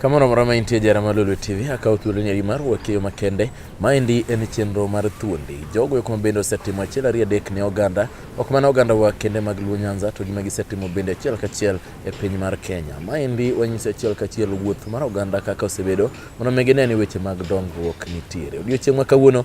Kamano moro ma intie jara mar Lulu TV akawo thuolo nyari mar wakeyo makende. Maendi en chenro mar thuondi. Jogo eko bende osetimo achiel ariyo adek ne oganda, ok mana oganda wa kende mag Luo Nyanza to gima gisetimo bende achiel kachiel e piny mar Kenya. Maendi wanyiso achiel kachiel wuoth mar oganda kaka osebedo mondo mi gine ni weche mag dongruok nitiere. Odiochieng' ma kawuono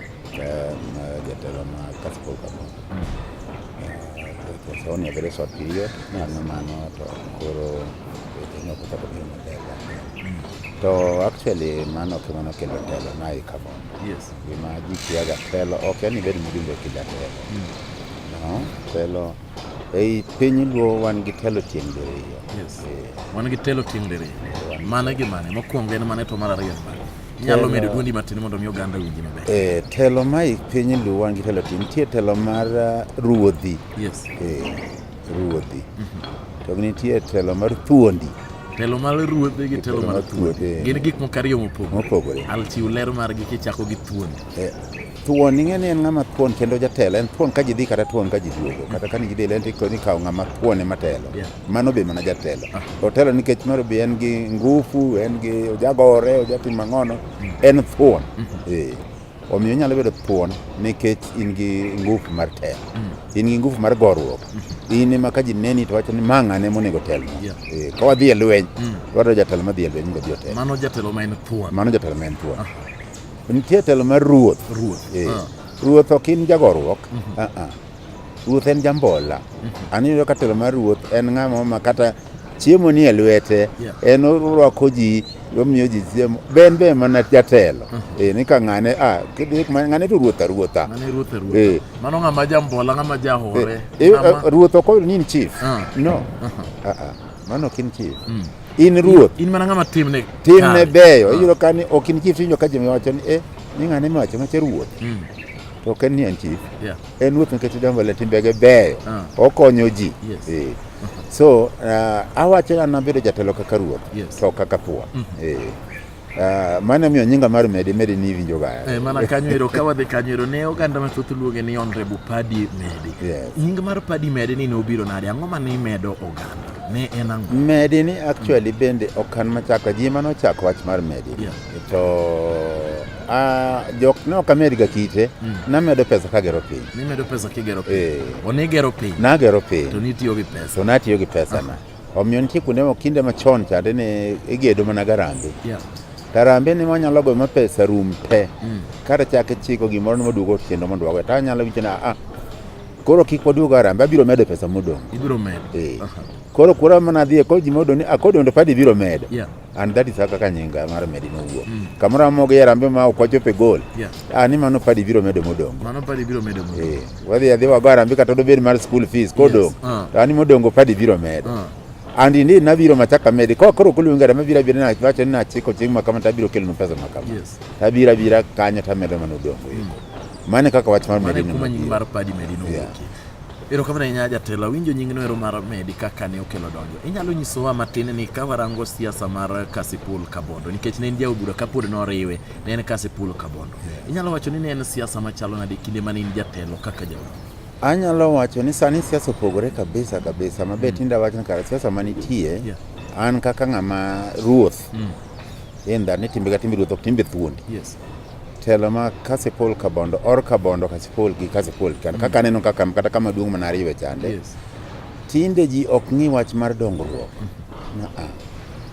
Jatelo ma Kasipul Kamau Sauni a very short period mano mano to koro weche moko kata biro maber to actually mano ok mano kelo telo na i cover yes gima ji kiaga telo ok en ibed mjumbe kila telo mm. no telo ei piny luo wan gi telo tieng' diriyo yes. Eh. wan gi telo tieng' diriyo mano gimane mokwongo en mane to mar ariyo mane Inyalo medo dwondi matin mondo mi oganda winji maber. Eh, telo ma i piny luwa gi telo tin nitie telo mar uh, ruodhi. Yes. Eh, ruodhi. To nitie telo mar thuondi Telo mar ruodhi gi telo mar thuondi. Gin gik moko ariyo mopogore. mopogore. Al chiw ler margi kichako gi thuondi. Eh, thuon ing'e ni en ng'ama thuon kendo jatelo en thuon ka ji dhi kata thuon ka ji duogo kata ka ni ji dhi lenti ko ni kawo ng'ama thuon ema telo Yeah. Mano be mana jatelo. Ah. Otelo nikech moro be en gi ngufu, en gi ojagore, ojatim mang'ono, mm. en thuon. Mm-hmm. Eh. Omiyo inyalo bedo thuon nikech in gi ngufu mar telo. Mm. In gi ngufu mar goruok. Mm-hmm. In ema ka ji neni to wacho ni ma ng'ane monego tel. Eh, ka wadhi e lweny, mm. wadwa jatelo ma dhi e lweny mondo odhi otel. Mano jatelo ma en thuon. Mano jatelo ma en thuon. Ah. Nitie telo mar ruoth. Ruoth. Eh. Ah. Ruoth ok in jagoruok. Mm-hmm. Ah, Ruoth en jambola. An iyudo ka telo mar ruoth en ng'ama ma kata chiemo nie lwete Yeah. en orwako ji omiyo ji chiemo be en be mana jatelo Eh, ni ka ng'ane ah, kidhi kuma- ng'ane to ruoth aruotha Mano e ruoth e ruoth. Eh. Mano ng'ama jambola, ng'ama jahore. Eh, ng'ama- eh, ruoth ok oyudo ni in chief Ah. no Ah, ah. mano ok in chief Mm. in ruoth In mana ng'ama timne. timne kare. beyo Ah. iyudo ka ni ok in chief tiwinjo ka ji wacho ni eh ni ng'ane mawacho macha ruoth Mm. to ok en ni en chief Yeah. En ruoth nikech odongo le timbege beyo, ah. okonyo ji. Yes. Eh. So uh, awacho ni an abedo jatelo kaka ruoth yes. to kaka thuwa mm -hmm. eh. Uh, mano miyo nyinga mar medi medi ni winjo ga eh, mana kanyo ero ka wadhi kanyo ero ne oganda mathoth luonge ni honorable Paddy Medi yes. nying mar Paddy Medi ni ne obiro nade ang'o ma ne imedo oganda ne en ang'o medi ni actually mm. bende okan machako ji mano chako wach mar medi yeah. To uh, jok ne ok amedga kite mm. namedo pesa kagero piny nimedo pesa kigero piny eh. onigero piny nagero piny to nitiyo gi pesa to natiyo gi pesa na ah. omiyo nitie kuonde moko kinde machon chande ne igedo mana garambe yeah. tarambe ni wanyalo goyo ma pesa rum te mm. kata chake chiko gimoro nimoduogo tiendo mondo wago ta anyalo winjo na ah, koro kik waduog arambe abiro medo pesa modong' ibiro medo eh. uh -huh. koro kura mana dhie koro ji modong' ni akodondo ah, padi biro medo yeah. and that is kaka nyinga mar medi nowuok mm. kamoro amoko gi yarambe ma ok wachope gol yeah. ah, ni mano padi biro medo modongo mano padi biro medo modongo eh wadhi adhi wago yarambe kata dobed mar school fees kodong yes. uh. to ani modongo padi biro medo uh. and indeed nabiro machaka medi ko koro kulu ngara mabira bira na wacho na chiko ching makama tabiro kelo pesa makama yes. tabira bira kanya tamedo mano dongo mm. mane kaka wach mar medi no mane kuma nyinga mar padi medi no yeah. Erokamano ahinya jatelo, awinjo nyingno ero mar medi kaka ne okelo donjo. Inyalo nyisowa matin ni ka warango siasa mar Kasipul Kabondo nikech ne en jaod bura kapod noriwe ne en Kasipul Kabondo. Inyalo wacho ni ne en siasa machalo nade kinde mane in jatelo kaka jaod Anyalo wacho ni sani siasa opogore kabisa kabisa ma be mm. tinde awacho ni kare siasa manitie yeah. an kaka ng'ama ruoth mm. in that ni timbe ka timbe ruoth ok timbe thuondi. Yes. telo ma Kasipul Kabondo or Kabondo Kasipul gi Kasipul kan kaka aneno kaka kata kama duong' mana ariyo e chande Yes. tinde ji ok ng'i wach mar dongruok Aa.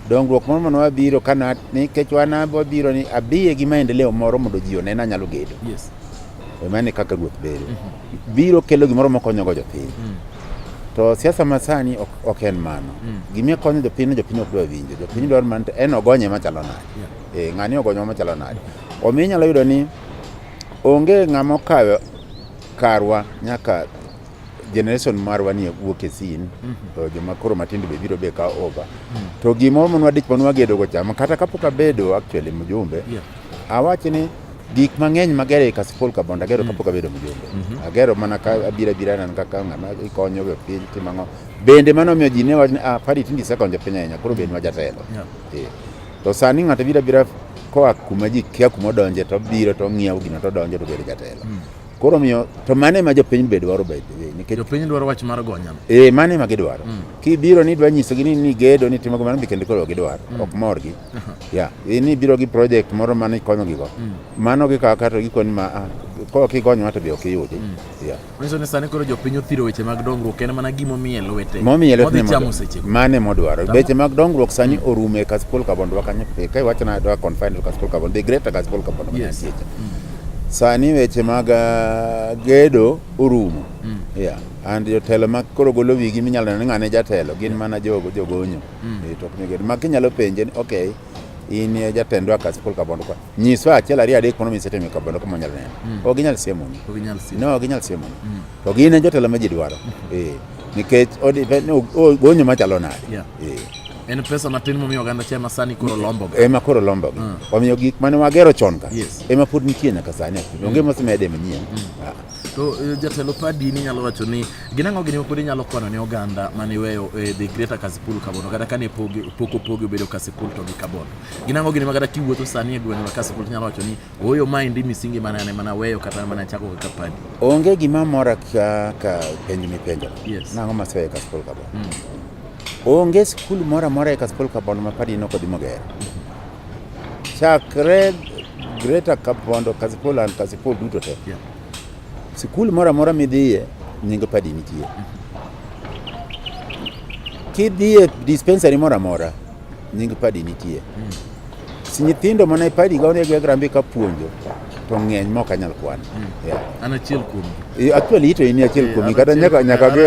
dongruok moro mane wabiro kana nikech wan wabiro ni abiye gi maendeleo moro mondo ji onena nyalo gedo Yes. emane kaka ruoth bedo biro kelo gimoro makonyogo jopiny Mm. to siasa masani ok, ok en mano Mm. gima konyo jopiny ni jopiny ok dwa winjo jopiny dwaro mana to en ogonye machalo nade Yeah. Eh, ng'ani ogonyo machalo nade. Omiyo inyalo yudo ni onge ng'ama okayo karwa nyaka generation marwa ni wuok e sin mm -hmm. to joma koro matindo be biro be ka over mm -hmm. to gimoro manwa dich manwa gedo go chama kata kapok abedo actually mjumbe yeah. awachi ni gik mang'eny magero e kasipol kabond agero mm. kapok abedo mjumbe mm -hmm. agero mana ka abira abira nan kaka ng'ama ikonyo go piny timang'o bende mano miyo ji ne wach ni ah padi tindi sekonjo piny ahinya koro bed ma jatelo yeah. yeah. To sani ng'ato bira bira koa kuma ji kia kuma odonje to biro to ng'iewo gino to donjo to bedo jatelo. Hmm. Koro miyo to mane ma jopiny be dwaro by the way nikech jopiny dwaro wach mar gonya. Eh mane ma gidwaro. Hmm. Ki biro ni dwa nyiso gini ni gedo ni timo kamano bikende koro gidwaro hmm. ok mor gi. Ya, yeah. ni biro gi project moro mane konyo gigo. Mano gi kaka to gikoni ma ah, ko kigonywa to be ok iyudi. Ya. Yeah. Manyiso ni sani koro jopiny othiro weche mag dongruok en mana gima omiye lwete. Momiye lwete Modhi chamo seche go. mane modwaro. Tama. Weche mag dongruok sani orumo e Kasipul Kabondo wa kanyo. E, Ka iwacho na dwa confine to Kasipul Kabondo, the greater Kasipul Kabondo. Yes. Yes. Sani weche mag ah, gedo orumo. Yeah. And jotelo ma koro golo wigi minyalo neno ni ng'ane jatelo gin mana jogo jogonyo. Eh, to ok ni gedo. Ma kinyalo penje ni okay in eh, jatendwa Kasipul Kabondo kwa. nyiswa achiel ariyo adek mondo mi sete mi kobondo kama nyalo neno mm. ok ginyal siemo ni ok ginyal siemo no ok ginyal siemo ni mm. to gin e jotelo ma ji dwaro mm-hmm. eh nikech gonyo machalo nade yeah. eh en pesa matin momiyo oganda cha ema sani koro lombo ga ema koro lombo ga mm. omiyo gik mane wagero chon ka yes. ema pod nitie nyaka sani mm. onge mosemede manyien mm. ah. to eh, jatelo padi ni nyalo wacho ni gin ang'o gini mapod inyalo kwano ne oganda mane iweyo eh, the greater kasipul kabono kata kane pok opogi obedo kasipul to gi kabono ginango gini makata kiwuotho sani e gweng' lakasi pol nyalo wacho ni oyo ma endi misingi mana ane mana weyo kata mana chako kaka padi onge gima mora ka, ka penj mipenjo yes. nang'o maseweyo kaspol kabon mm. onge skul mora mora e kaspol kabon ma padi nok odhi mogero chakre greta kabondo kaspol an kaspol duto te yeah. sikul mora mora midhiye nyingo padi nitie mm -hmm. kidhiye dispensary mora mora Nying padi nitie. Mm. Si nyithindo mana e padi ga onego grambe ka puonjo to ng'eny mok anyal kwan. Mm. Yeah. An achiel kuom. Actually ito ini achiel eh, kuom kata nyaka nyaka ge.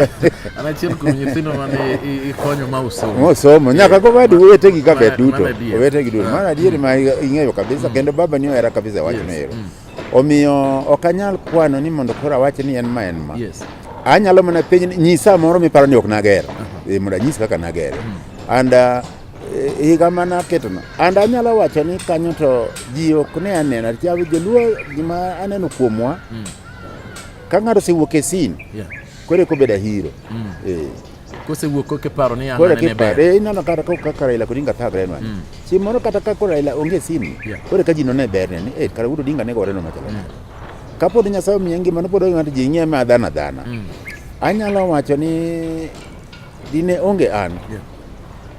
An achiel kuom nyithindo mane ikonyo ma usomo. Mo somo nyaka eh, go wadi wete gi kaka duto. Wete gi duto. Eh. Mana adieri ma ing'eyo kabisa mm. kendo baba ni era kabisa wachno ero. Mm. Omiyo ok anyal kwano ni mondo koro awach ni en ma en ma. Yes. Anyalo mana penj nyisa moro miparo ni ok nager. Uh -huh. E, mondo anyis kaka nager. Mm. And uh, e, higa mana ketono. And anyalo wacho ni kanyo to ji ok ne anena. Chawi joluo gima aneno kuomwa. Mm. Ka ng'ato osewuok e sin. Yeah. Kore ko beda hero. Mm. E. kosewuok koke paro ni koro anane ber kipare ineno kata ka kaka Raila Odinga thagre nwa Mm. si moro kata ka koro Raila onge simu Yeah. koro ka ji none ber ne ni eh kara wudo Odinga ne gore no machalo nade ka pod Nyasaye omiye ngima no pod onge ng'ato ji ng'iye ma dhana dhana Mm. anyalo wacho ni dine onge an Yeah.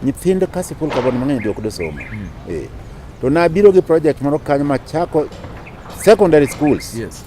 nyithindo ka sikul kabon mang'eny be ok dosomo eh to nabiro gi project moro kanyo machako secondary schools Yes.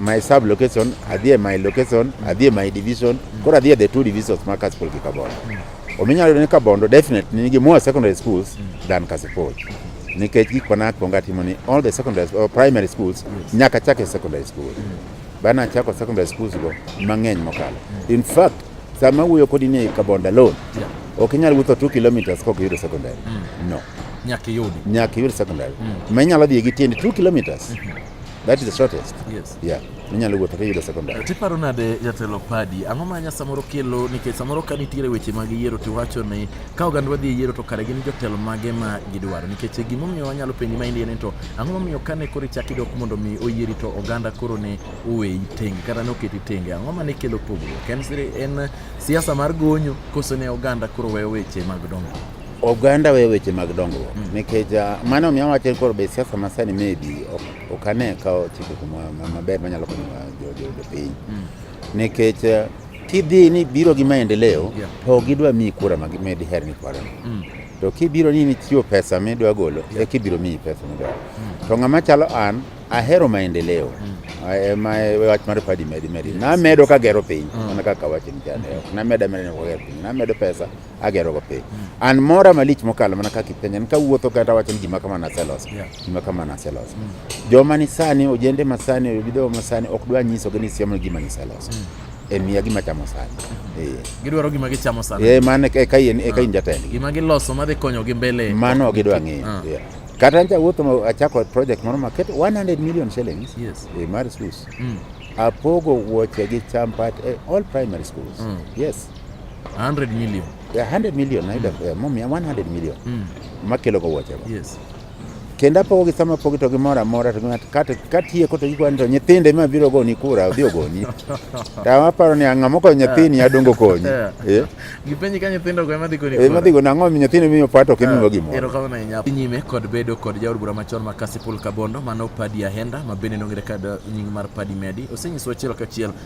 my sub location adhi e my location adhi e my division koro adhi e the two divisions ma Kasipul gi Kabondo ominyalo yudo ni Kabondo definitely nigi more secondary schools than Kasipul nikech gik mana akwongo atimo ni all the secondary or primary schools nyaka chak e secondary school bana chako secondary schools go mang'eny mokalo in fact sama wuoyo kodi ni Kabondo alone ok inyal wuotho 2 kilometers kok yudo secondary no nyaka iyud nyaka iyud secondary ma inyalo dhi gi tiendi 2 kilometers That is the shortest. Yes. Yeah. Minyalo wuotho kiyudo secondary. To iparo nade jatelo Padi, ang'o ma nya samoro kelo nikech samoro ka nitiere weche mag yiero to iwacho ni ka oganda wadhi e yiero to kare gin jotelo mage ma gidwaro nikech gimomiyo wanyalo penji ma indie ni to ang'o momiyo kane koro ichak idok mondo mi oyieri to oganda koro ne oweyi tenge kata ne oketi tenge ang'o ma ne kelo pogruok en siasa mar gonyo koso ne oganda koro weyo weche mag dongruok Oganda we weche mag dongruok mm. nikech ah, mano miyo wacho koro be siasa masani maybe ok ane ka ochiko kuma maber manyalo konyo jopiny mm. nikech ah, kidhi ni biro gi maendeleo to ok gidwa miyi kura madiher ni kwarano mm. to kibiro ni nichiwo pesa midwa golo e kibiro miyi pesa midwaro to ng'ama chalo an ahero maendeleo ema e wach mar padi medi medi namedo kagero piny mana kaka wacho ni ok namedo amedani kagero piny namedo pesa agerogo piny an mora malich mokalo mana kaka ipenja ni kawuotho kata wacho ni gima kama naseloso Yeah. gima kama naseloso joma ni sani ojende masani obidogo masani ok dwa nyisogi ni siemo gima niseloso e miya gima chamo sani Eh. gidwaro gima gichamo sana Eh, mano e ka in e ka in jatendgi gima giloso madhi konyogi mbele mano ok gidwa ng'eyo Ah. Yeah. kata ancha wuotho ma- achako project moro maket 100 million shillings Yes. eh, mar schools Mm. apogo wuoche gi champat eh, all primary schools Mm. yes 100 million. Yeah, 100 million mm. ayudo eh, mom 100 million mm. makelo go wuoche yes kendo apogogi sama apogi to gimoro amora to katieko to gikwani to nyithinde ma biro goni kura odhi ogoni to aparo ni ang'a mokonyo nyathini adongo konyi eh? gipenji ka nyithindo go emadhi goni eh, madhi goni ang'o nyithini miyo pato ok imiyo gimoro erokamano ahinya nyime kod bedo kod jaod bura machon ma Kasipul Kabondo mano Padi Ahenda ma bende nong'ere kod nying mar Padi Medi osenyiso achiel kachiel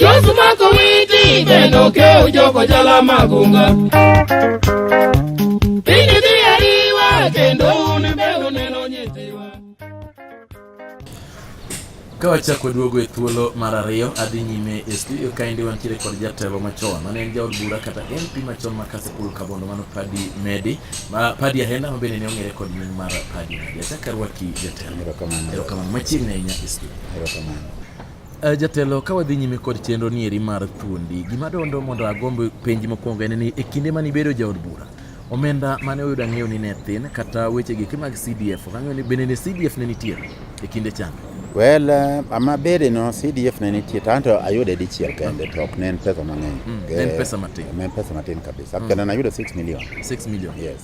Josu mako witi bendo ke ujoko jala magunga. Pindi dhi ariwa kendo un be uneno nyithiwa. ka wachako duogo e thuolo mar ariyo adhi nyime e studio kaendi wantiere kod jatelo machon mane en jaod bura kata mp machon ma kasipul kabondo mano padi medi ma padi ahenda ma bende ne ong'ere kod nying mar padi medi achak arwaki jatelo Erokamano. Machiegni ahinya Istu. Erokamano. Eh, jatelo ka wadhi nyime kod chenro ni eri mar thuondi, gima dondo mondo agomb penji mokwongo en ni e kinde mane ibedo jaod bura, omenda mane oyudo ang'eyo ni ne thin kata weche giki mag CDF, ok ang'eyo ni bende ne CDF ne nitie e kinde chan? Well, eh, ama bede no CDF ne nitie tanto ayude dichiel kende to ok ne en pesa mang'eny. Mm, en pesa matin. En pesa matin kabisa. Mm. Kendo nayudo 6 million. 6 million. Yes.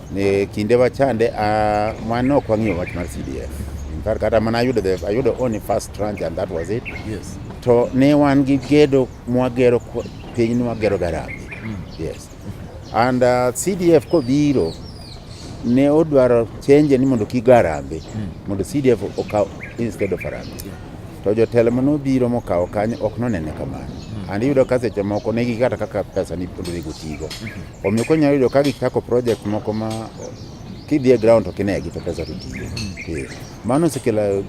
Ne kinde wachande uh, ah, mano ok wang'iyo wach mar CDF. In fact kata mana ayudo the ayudo only first tranche and that was it. Yes. To ne wan gi gedo mwagero piny ni wagero garabi. Mm. Yes. And uh, CDF kobiro ne odwaro change ni mondo kik garambe mm. mondo CDF okaw instead of Harambee. Yeah. To jotelo mano biro mokawo kanyo ok nonene kamano. Mm. And iyudo ka seche moko ne gikata kaka pesa ni pondo ne gotigo. Mm -hmm. Omiyo konyalo yudo ka gichako project moko ma kidhi e ground to kinegi to pesa to tiyo. Eh, Mano osekelo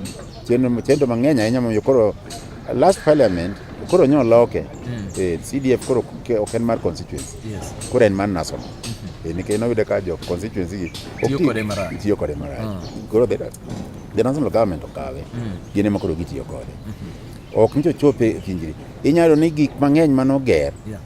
chenro chenro mang'eny ahinya momiyo koro last parliament koro nyo loke. Eh, CDF koro ke- ok en mar constituency. Yes. Koro en mar national. Eh, Nikech noyudo ka jo constituency gi ok Tiyo ti- kode marach. Tiyo kode marach. Koro the the national government okawe. Gin ema koro gitiyo kode. Ok nyo chope e kinjri. Inyalo ni gik mang'eny manoger Yeah.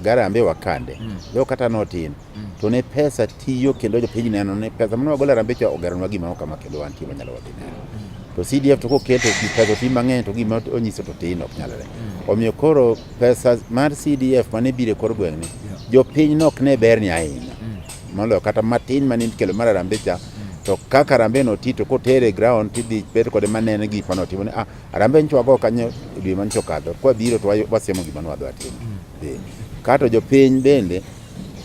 garambe wakande mm. yo kata notin mm. to ne pesa tiyo kendo jopiny neno ne pesa mane wagolo arambe cha ogeronwa gima okama kendo wantie wanyalo wadhi neno mm. to CDF to koketo pesa ti mang'eny to gima onyiso to tin ok nyalre mm. omiyo koro pesa mar CDF mane bire kor gweng'ni yeah. jopiny nok ne ber ni ahinya mm. moloyo kata matin mane ikelo mar arambe cha mm. to kaka arambe no ti to kotere ground tidhi bet kode manene gik mane otimo ni ah Arambe nyicho wago kanyo e dwe manyicho kadho, kwa biro to wasiemo gima nwadwa timo. Mm. Kato jo piny bende,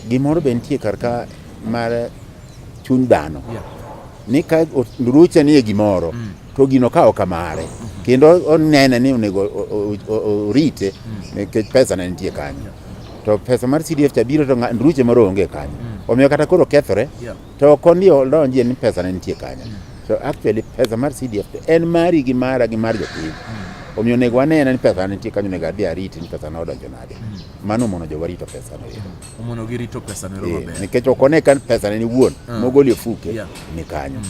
gimoro be nitie kar ka mar chuny dhano. Ni ka ruche ni e gimoro, mm. to gino ka oka mare. Mm-hmm. Kendo onene ni onego orite, mm. nikech pesa ne nitie kanyo. To pesa mar CDF cha biro to ruche moro onge kanyo. Omiyo kata koro kethore. To kondi odonjie ni pesa ne nitie kanyo. So actually pesa mar CDF to en mari gi mara gi mar jopiny. Hmm. Omiyo onego anena ni pesa ne nitie kanyo onego adhi ariti ni pesa ne odonjo nade. Hmm. Mano mono jo warito pesa no. Hmm. Omono girito pesa no eh, maber. Nikech okone kan pesa ne ni wuon mogoli ofuke ni kanyo.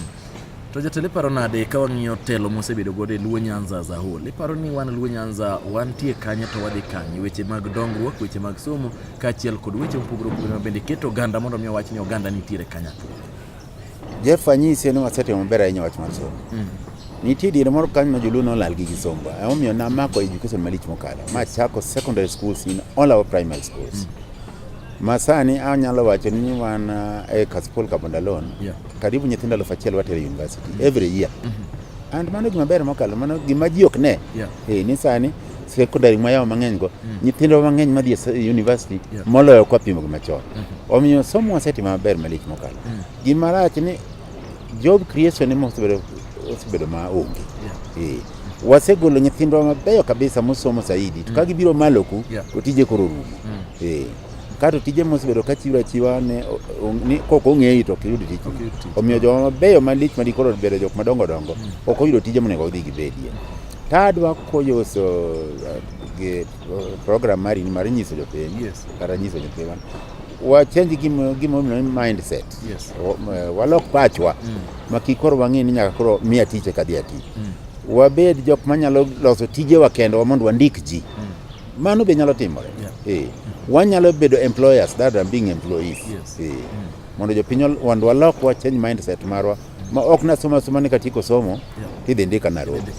To jatelo iparo nade ka wang'iyo telo mosebedo godo e Luo Nyanza as a whole? Iparo ni wan Luo Nyanza wantie kanye to wadhi kanye? Weche mag dongruok, weche mag somo, kaachiel kod weche mopogore opogore ma bende keto oganda mondo mi owach ni oganda nitiere kanyakla. Jeff anyisi ni wasetimo maber ahinya wach mar somo. Mm. Nitie diere moro kanyo ma joluo nolal gi kisomba. Emomiyo namako education malich mokalo. Ma chako secondary schools in all our primary schools. Mm. Masani anyalo wacho ni wan uh, e Kasipul Kabondalon. Yeah Karibu nyithindo elfu achiel watero university mm-hmm. every year. Mm-hmm. And mano gima ber mokalo, mano gima ji ok ne. Yeah. Eh, ni sani secondary mwayawo mang'eny go mm. nyithindo mang'eny madhi e university yeah. moloyo kwa pimo gi machon mm -hmm. omiyo somo wasetimo maber malich mokalo mm. gima rach ni job creation ema osebedo osebedo ma onge yeah. eh. wasegolo nyithindwa mabeyo kabisa mosomo saidi to mm. ka gibiro maloku yeah. to tije koro rumo mm. eh. Kato tije mosebedo ka chiwo achiwa ne ni kok ong'eyi to ok iyud tich. Omiyo joma mabeyo malich ma dikoro bedo jok madongo dongo mm. ok oyudo tije monego odhi gibedie. Tadwa koyoso uh, gi uh, program mari ni mar nyiso jopiny yes. kata nyiso jopiny wan wachenji gimomiyo ni mindset yes. Uh, walok pachwa mm. ma kik koro wang'e ni nyaka koro miya tich eka dhi ati mm. wabed jok manyalo loso tijewa kendwa mondo wandik ji mm. Mano be nyalo timore. Yeah. Eh. Wanyalo bedo employers that are being employees. Yes. Eh. Mm. Mondo jopiny wand walok wa change mindset marwa mm. ma ok nasoma soma ni katieko somo yeah. tidhi ndika Nairobi.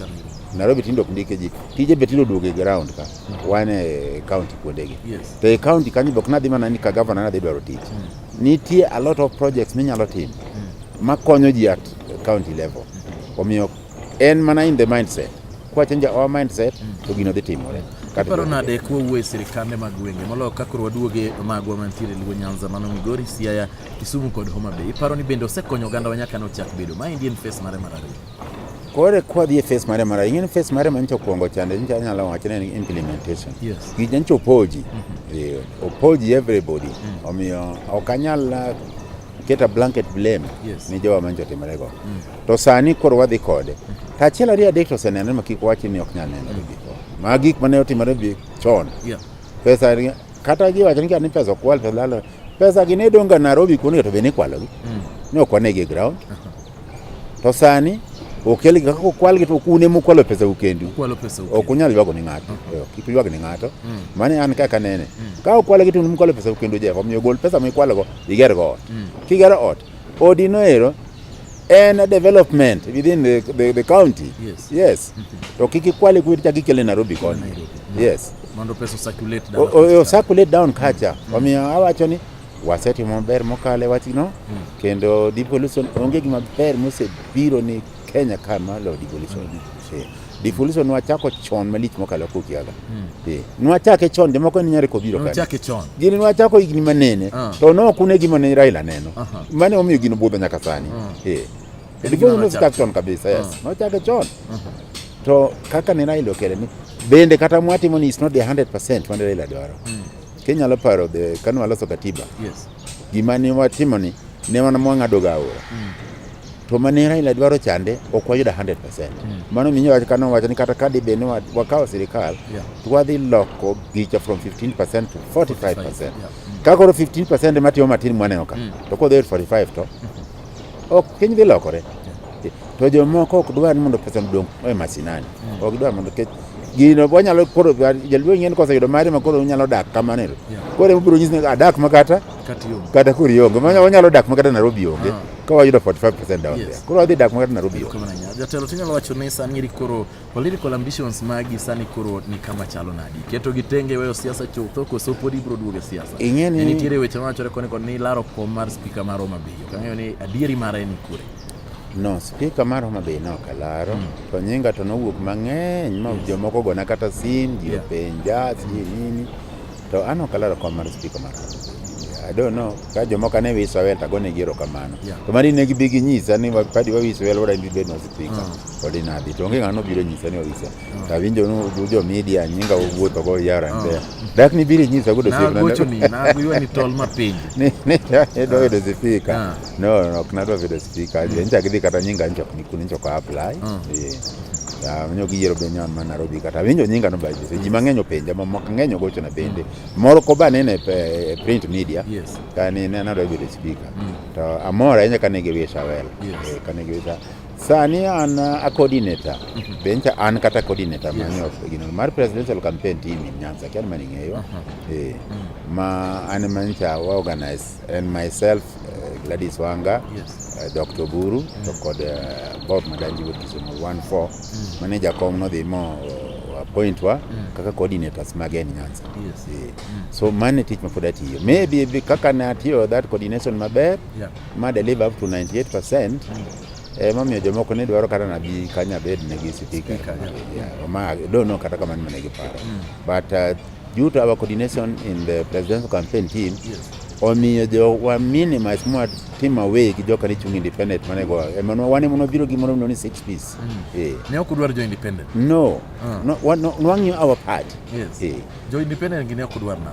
Nairobi tindo ok ndike ji. Tije be tindo duogo e ground ka. Mm. Wan e county kuondegi. Yes. To e county kanyo be ok nadhi mana ni ka governor nadhi dwaro tich. Mm. Nitie a lot of projects minyalo timo mm. makonyo ji at county level. Mm. Omiyo En mana in the mindset. Kwa change our mindset to gino dhi timore. Iparo nade kwa uwe sirikande mag gwenge moloyo ka koro waduoge magwa mantiere Luo Nyanza mano Migori, Siaya, Kisumu kod Homa Bay. Iparo ni bende osekonyo oganda wa nyaka nochak bedo. Ma endi en face mare mar ariyo. Kore kwa dhi e face mare mar ariyo. Ing'en face mare manyicha okwongo chande nyicha anyalo wacho ni implementation. Yes. Gi nyicha opoji. Mm -hmm. E, opoji everybody. Mm -hmm. Omiyo ok anyal uh, keta blanket blame yes. ni jowa manyicha otimorego. Mm -hmm. To sani koro wadhi kode. To achiel ariyo adek to oseneno ma kik wachi ni ok nyal neno giko. Ma gik mane otimore bi chon. Yeah. Pesa ni- kata ji wacho ni kata ni pesa okwal pesa lalo. Pesa gi ne donga Nairobi kuonde to be ne ikwalogi. Mm. Ne ok wanegi e ground. To sani okelgi kaka okwalgi to kune mukwalo pesa u kendu. Kwalo pesa uke. ok unyal ywago ni ng'ato Eh, ok kik ywag ni ng'ato Mm. mane an kaka nene ka ukwalo gi tunu mukwalo pesa kendo jefa omiyo gol pesa mikwalogo igergo ot Mm. kigero ot Odi noero en a development within the, the, the county. Yes. Yes. To kiki kwale kuwiti chaki kele Nairobi koni. Yes. Mondo peso circulate down. O, o, circulate down kacha. Mm. Wamiyo awacho ni wasetimo maber mokale wachno mm. kendo devolution onge gima ber mosebiro ni Kenya ka ma lo devolution. Eh, Devolution nwachako chon malich mokalo kokiaga. Eh, Nwachake chon jomoko ni nyari kobiro kare. Chake chon. Gini nwachako higni manene Ah. to ne ok une gima ne Raila neno. Aha. Mane omiyo gino budho nyaka sani. Ah. Eh. En Devolution gima nochak nochak chon kabisa, yes. Ah. Nochake chon. To kaka ne Raila okele ni bende kata mwatimo ni it's not the 100% mane Raila dwaro. Kenya lo paro the kanu aloso katiba. Yes. Gima ne watimoni ne wan mwang'ado ga aora. Mm. To mane Raila dwaro chande ok wayudo 100%. Mm. Mano miyo wach kano wacho ni kata ka dibe ni wakawo sirikal yeah. to wadhi loko gicha from 15% to 45%. 45 yeah. mm. Ka koro 15% matimo matin mwaneno ka mm. to kodhi 45 to mm. Ok piny dhi lokore. To jomoko ok dwar ni mondo pesa odong e masinani. Hmm. Ok dwar mondo kech gino wanyalo koro jaluo ng'en kose yudo mari ma koro unyalo dak kamano ero. Koro ema biro nyisi ni adak ah, makata kata koro ionge. Wanyalo dak makata Nairobi onge. Ah. Ka wayudo 45% down there. Koro wadhi dak makata Nairobi onge. Jatelo tinyalo wacho ni sani koro Political ambitions magi sani koro ni kama chalo nadi? Keto gi tenge weyo siasa chutho koso pod ibro duogo e siasa? Ing'e ni nitiere weche mawachore koni kod ni laro kom mar spika mar Homa Bay. Ok ang'eyo ni adieri mare ni kure. No, spika mar Homa Bay ne ok alaro, mm. to nyinga to nowuok mang'eny ma yes. jomoko gona kata sim, ji openja, yeah. si nini. To an ok alaro kom mar spika mar I don't know ka jomoko ne wiso awel to agone gi erokamano Yeah. to mari ne gibi ginyisa ni wa- padi wawiso wel wada bed no spika Ah. odi nadhi to onge ng'ano biro nyisa ni wawiso to awinjo ni u- jo media nyinga wuotho go yara Ah. mbea dak ni biro nyisa godo nagochoni nagoywani tol mapinji ni ni doyudo spika Ah. No, no, kunadwa vile speaker aje. Nje akidhi kata nyinga nje kunikuni nje kwa apply. Mm. Yeah. Ya nyo giyero be nyon ma Nairobi kata winjo nyinga no baje. Ji mang'eny openja ma moko ng'eny ogocho na bende. Mm. Moro ko ba nene e, e print media. Yes. Kani ne nadwa vile speaker. Mm. To amora enye kane giwisha welo. Yes. E, kane giwisha sani an uh, a coordinator mm -hmm. bencha an kata coordinator yes. manyo gino mar presidential campaign team in Nyanza kian mani ngeyo uh -huh. eh, mm. ma an mancha wa organize and myself Uh, Gladys Wanga, yes. uh, Dr. Buru, mm. to kod uh, Bob Madanji wuod Kisumu 14 mm. mane jakom nodhi mo uh, appoint wa mm. kaka coordinators mag en Nyanza. Yes. Yeah. Mm. So mane tich mapod atiyo. Maybe be, kaka ne atiyo that coordination maber yeah. ma deliver up to 98% mm. Eh, mamiyo jomoko ne dwaro kata nabi kanya bed ne gi speaker. Yeah. Yeah. Ma, don't know kata kamano mane giparo. Mm. But uh, Due to our coordination in the presidential campaign team, yes. omiyo jo wa minimize mwa team away gi joka ni chung independent mane go emano wane mono biro gi mono ni six piece mm. eh ne ok dwar jo independent no uh. no wan no wangi our part yes eh jo independent gi ne ok dwar na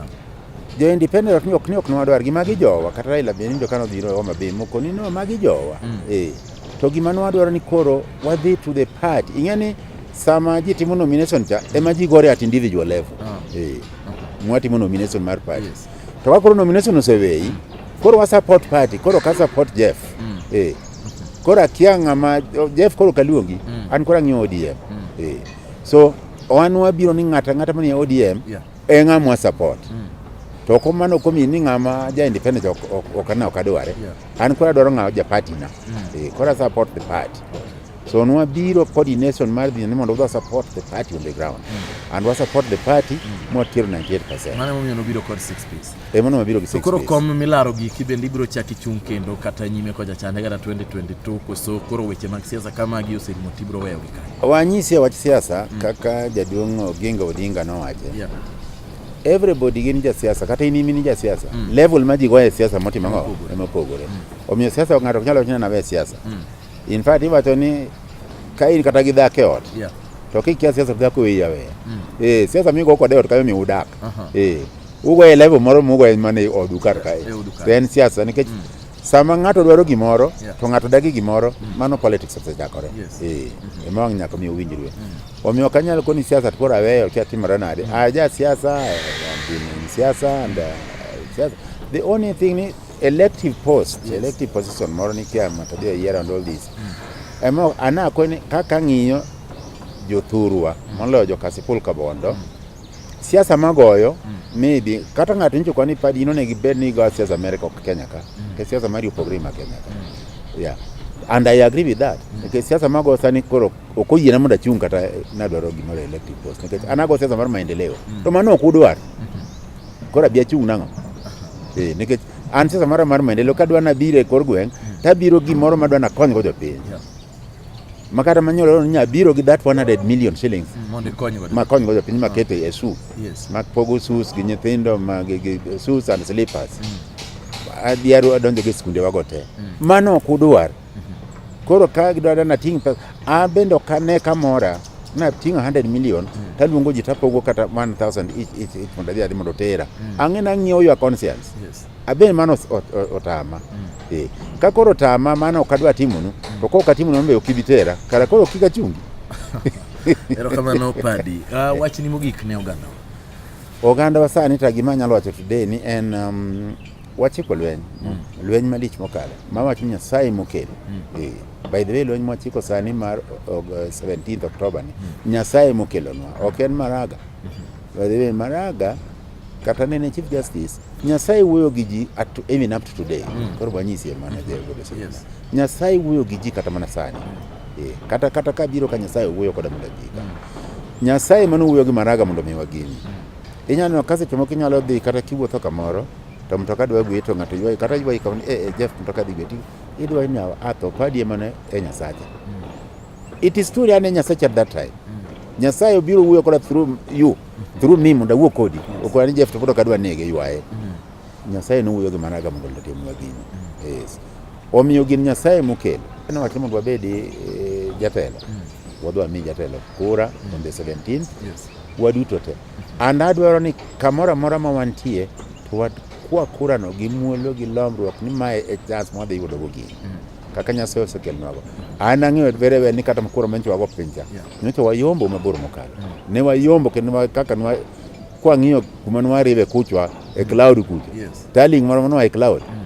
jo independent ok ni ok ni ok nwa dwar gi magi jowa kata Raila be ni jo kano biro Homa Bay moko ni no magi jowa mm. eh to gima nwa dwaro ni koro wadhi to the party ing'eni Sama ji timo nomination cha ema ji gore at individual level. Ah. Eh. Mwatimo nomination mar party. Yes. To wakoro nomination oseweyi. Koro wa support party, koro ka support Jeff. Mm. Eh. Koro akia ng'ama Jeff koro kaluongi, mm. an koro ang'iyo ODM. Mm. Eh. So wan wabiro ni ng'ata ng'ata manie ODM yeah. e ng'amwa support. Mm. To ko mano komi ni ng'ama ja independent ok ok, ok, ok, ok adware. Yeah. An koro adwaro ng'ama ja party na. Mm. Eh, koro support the party. Okay. So nwa biro coordination mar dhi ni mondo wadwa support the party on the ground mm. and wa support the party mm. mwa tier 98%. Mane momiyo nobiro kod 6 piece. Eh, mano mabiro gi 6 piece. Koro kom milaro gi kibendi biro chaki chung kendo kata nyime koja chande kata 2022 koso koro weche mag siasa kama gi oserumo tibro weyo gi kanyo. Wanyisi ya wach siasa mm. kaka jaduong' Oginga Odinga nowache. Yeah. Everybody gin ja siasa kata in imini ja siasa. Mm. Level ma ji goye siasa motimo ng'o? Emopogore. Mm. Omiyo siasa ng'ato ok nyalo wacho ni anawe siasa. Mm. In fact iwacho ni ka in kata gi dhako e ot yeah. to kikia siasa to dhako weyi aweya mm. eh, siasa migo kode e ot kayo mi udak uh -huh. eh, ugo e level moro mugo e mana e odu kar kae to en siasa nikech mm. sama ng'ato dwaro gimoro yeah. to ng'ato dagi gimoro mm. mano politics osechakore yes. eh, mm -hmm. ema wang' nyaka mi uwinjrue mm. omiyo ok anyal koni siasa to koro aweyo kia timore nade mm. aja ah, siasa eh, siasa and uh, siasa the only thing ni elective post yes. elective position moro nikia matodhie yiero and all this mm. emo anako ni kaka ng'iyo jothurwa mm. moloyo jokasipul kabondo mm. siasa magoyo mm. maybe kata ng'ato nyicho kwa ni padi ino negi bed ni go siasa America ok Kenya ka mm. ke siasa mari opogre ma Kenya ka mm. yeah and I agree with that mm. nikech siasa mago sani koro ok oyiena mondo achung' kata nadwaro gimoro elective post nikech anago siasa mar maendeleo mm. to mano ok udwar mm -hmm. Koro abi achung' nang'o? Eh, nikech an siasa mara mar maendeleo ka dwa nabiro e kor gweng' hmm. tabiro gimoro ma dwa nakonygo jopiny ma kata manyalo nya biro gi that 100 million shillings hmm, ma konygo jopiny ma ah. keto e su ma pogo sus gi nyithindo ma gi sus and slippers hmm. adhiaro adonjo gi skunde wago te mano ok udwar Koro ka gidwaro na ting' pesa, an bende ok ane kamora na tingo 100 million mm. taluongo ji tapogo kata 1000 each each each mondo adhi adhi mondo tera mm. ang'e na ng'iewo your conscience yes. abe mano otama mm. eh ka koro tama mano ok adwa timonu mm. to kok atimonu be ok ibi tera kara koro kika chungi erokamano padi uh, ah, eh. wachni mogik ne oganda oganda wa sani ta gima anyalo wacho today ni en um, Wachiko lweny, mm. lweny malich mokalo, ma wach Nyasaye mokelo. Mm. Eh, by the way, lweny mwachiko sani mar 17 uh, Oktoba ni, mm. Nyasaye mokelonwa, ok en Maraga. Mm-hmm. By the way, Maraga kata nene Chief Justice, Nyasaye wuoyo gi ji even up to today. Mm. Koro wanyisi e mana jeo godo sani. Yes. Nyasaye wuoyo gi ji kata mana sani. Mm. Eh, kata kata ka biro ka Nyasaye wuoyo koda mondo ji. Mm. Nyasaye mano wuoyo gi Maraga mondo mi wageni. Mm. Inyalo neno ka seche moko inyalo dhi kata kiwuotho kamoro to mtoka dwa gweyi to ng'ato ywayi kata ywayi kama ni eh, eh, Jeff mtoka dhi gweyi idwa ni awa ah, atho padi ema ne e Nyasacha. It is true yani Nyasacha at that time. Nyasaye obiro wuoyo koda through you through me mondo awuo kodi okola ni Jeff to pod ok adwa nege ywaye. Nyasaye nowuoyo gi mana ga mondo otimnwa gino. Yes. Omiyo gin Nyasaye mokelo. Ne wacho mondo wabedi eh, jatelo. Wadwa mi jatelo kura on the 17th. Yes. waduto te and adwaro ni kamoro amora ma wantie to wakwa kurano gi muolo gi lomruok ni mae e chance mwadhi yudogo gini mm. kaka nyasaye osekelnwago an ang'eyo very well ni kata kura manyicha wago pincha nyocha wayombo mabor mokalo mm. ne wayombo kendo kaka nwa kwang'iyo kuma nwaribe kuchwa e cloud kucha taling moro manwa e cloud mm.